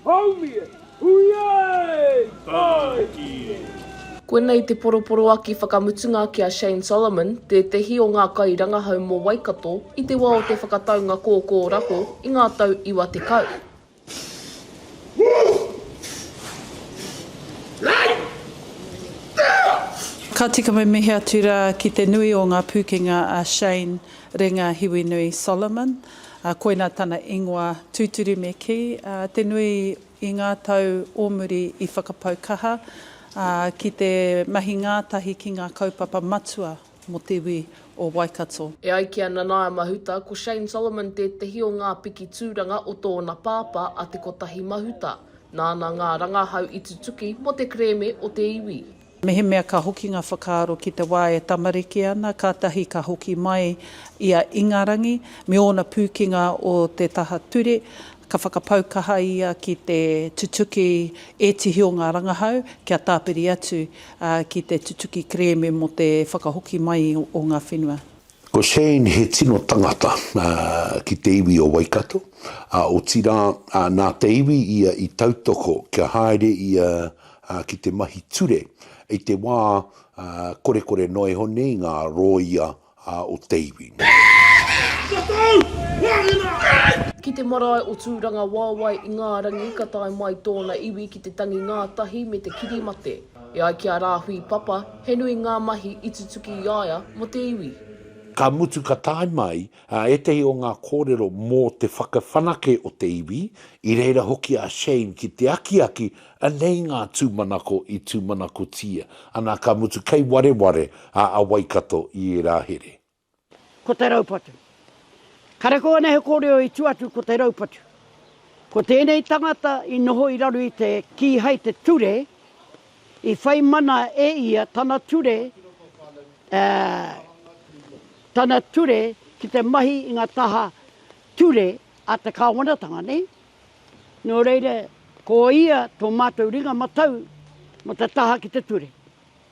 Haumi e! Hui e! Tae ki e! Koinei te poroporoaki whakamutunga ki a Shane Solomon, tētehi o ngā kairangahau mō Waikato i te wā o te whakataunga kōkōrako i ngā tau iwa tekau. Ka tika mimihi atu rā ki te nui o ngā pūkenga a Shane Renga Hiwinui Solomon, Ā, koina tana ingoa tūturu me kī, ā, te nui i ngā tau o muri i whakapau kaha, ā, ki te mahi ngātahi ki ngā kaupapa matua mō te iwi o Waikato. E ai ki a Nanaia Mahuta, ko Shane Solomon tētehi o ngā piki tūranga o tōna pāpā a Te Kotahi Mahuta, nāna ngā rangahau i tutuki mō te kerēme o te iwi. Mehemea ka hoki ngā whakaaro ki te wā e tamariki ana, kātahi ka hoki mai i a Ingarangi me ōna pūkenga o te taha ture, ka whakapau kaha ia ki te tutuki ētihi o ngā rangahau kia tāpiri atu ki te tutuki kerēme mō te whakahoki mai o ngā whenua. Ko Shane he tino tangata ki te iwi o Waikato, ā, otirā, nā te iwi ia i tautoko kia haere ia ki te mahi ture i te wā korekore noa iho nei ngā rōia o te iwi. Ki te marae o Tūranga Wāwae, Ingārangi, ka tae mai tōna iwi ki te tangi ngātahi me te kiri mate. E ai ki a Rāhui Papa, he nui ngā mahi i tutuki i a ia mō te iwi. Ka mutu ka tae mai Ā, ētehi o ngā kōrero mō te whakawhanake o te iwi, i reira hoki a Shane ki te akiaki, anei ngā tūmanako i tūmanakotia ana, ka mutu kei wareware a a Waikato i ērā here. Ko te raupatu. Kareko ana he kōrero i tua atu ko te raupatu. Ko tēnei tangata i noho i raro i te kīhai te ture I whai mana e ia tana ture, ā, tana ture ki te mahi i ngā taha ture a te Kāwanatanga nei. Nō reira, ko ia tō mātou ringa matau mō te taha ki te ture.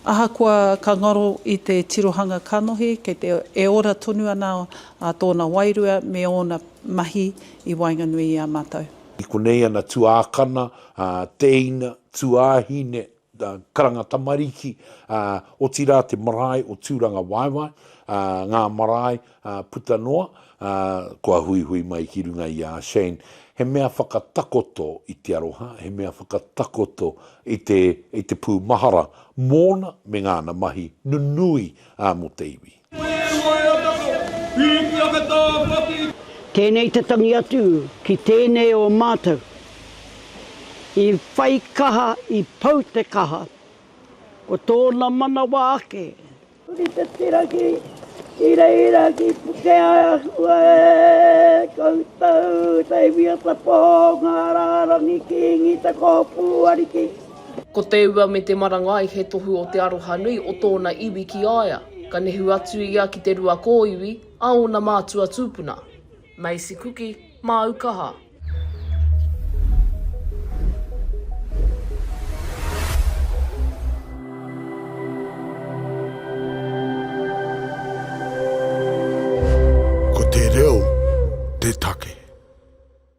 Ahakoa ka ngaro i te tirohanga kanohi, kei te e ora tonu ana tōna wairua me ōna mahi i waenganui i a mātou. I konei ana tuākana ā, tēina, tuāhine, ā, karanga tamariki, ā, otirā te marae o Tūrangawaewae, ā, ngā marae, ā, puta noa, ā, kua huihui mai ki runga i a Shane, he mea whakatakoto i te aroha, he mea whakatakoto i te, i te pūmahara mōna me ngāna mahi nunui, ā, mō te iwi. Tēnei te tangi atu ki tēnei o mātou i whai kaha, i pau te kaha, ko tōna manawa ake. Huri te tira ki Ireira, ki Pukeahua e koutou, Saviour Tapō, Ngā Rārangi Kīngi, Te Kōpū Ariki. Ko te ua me te marangai he tohu o te aroha nui o tōna iwi ki a ia. Ka nehu atu ia ki te rua kōiwi a ōna mātua tūpuna. Macy Kuki, māu kaha. Ko te reo te take.